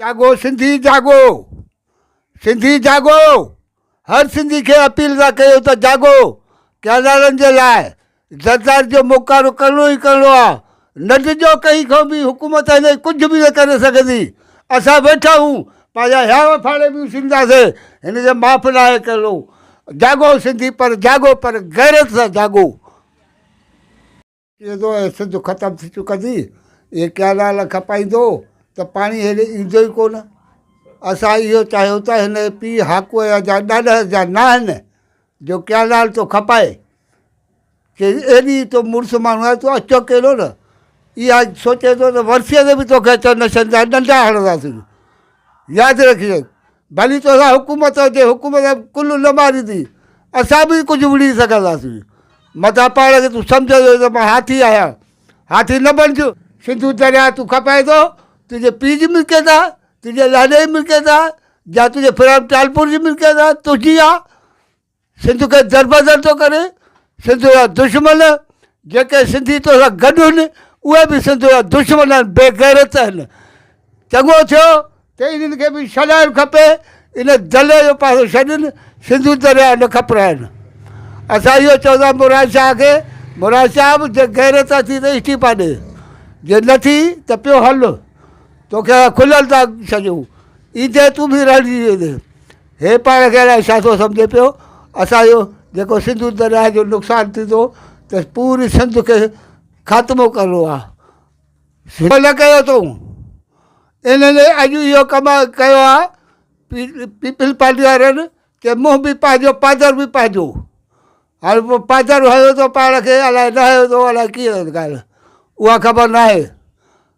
جاڳو سنڌي جاڳو سنڌي جاڳو هر سنڌي کي اپيل ٿا ڪيون ته جاڳو ڪينالن جي لاء زرداري جو موڪارو ڪرڻو ئي ڪرڻو آ نه ڊڄو ڪنهن کان به حڪومت هن کي ڪجهه به نه ڪري سگهندي اسان ويٺا آهيون پنهنجا هياوا ڦاڙي به اڇلنداسين هن کي معاف ناهي ڪرڻو جاڳو سنڌي پر جاڳو پر غيرت سان جاڳو. ايڏو اي سنڌ ختم ٿي چڪندي، اهي ڪئنال کپائيندو ته پاڻي هيڏي ايندو ئي ڪو نه. اسان اهو چاهيو ته هن جي پيء هاڪوء جا ڏاڏهر جا ناهن جو ڪئنال ٿو کپائي. چيس ايڏي تو مڙس ماڻهو آهي، تون اڇو ڪيڏو نه. اها سوچين ٿو ته ورسيء تي به توکي اچڻ نه ڇڏينداسين، ڏنڊا هڻنداسين. ياد رکجي. ڀلي توسان حڪومت هجي حڪومت ڪل نه ماريندي اسان به ڪجهه وڙهي سگهنداسين متان پاڻ کي تون سمجهي ٿو ته مان هاٿي آهيان هاٿي نه بڻج سنڌو درياهه تون کپائي ٿو تنهنجي پيء جي ملڪيت آهي تنهنجي لاڏي جي ملڪيت آهي يا تنهنجي ڦران ٽالپور جي ملڪيت آهي تنهنجي آهي سنڌ کي دربدر ٿو ڪري، سنڌ جا دشمن جيڪي سنڌي تو سان گڏ هن اهي به سنڌ جا دشمن آهن بي غيرت آهن چڱو ٿيو ته انهن کي به شڏائڻ کپي ان دلي جو پاسو ڇڏين سنڌو درياء نه کپرائن اسان اهو چوندا مراد شاهه کي مراد شاهه به جي غيرت اٿي ته استعيفا ڏي جي نه ٿي ته پيو هل توکي کلل ٿا ڇڏيون ايندي تون به رهجي ويندي هي پاڻ کي الائي ڇا ٿو سمجهي پيو اسانجو جيڪو سنڌو درياء جو نقصان ٿيندو ته پوري سنڌ کي خاتمو ڪرڻو آ سنڌ نه ڪيو اٿئون انهن اڄ اهو ڪم ڪيو آ پيپلز پارٽي وارن چي منهن به پنهنجو پادر به پنهنجو هاڻي پوء پادر هنيو اٿو پاڻ کي الائي نه هنيو اٿو الائي ڪيئن ڳالهه اها خبر ناهي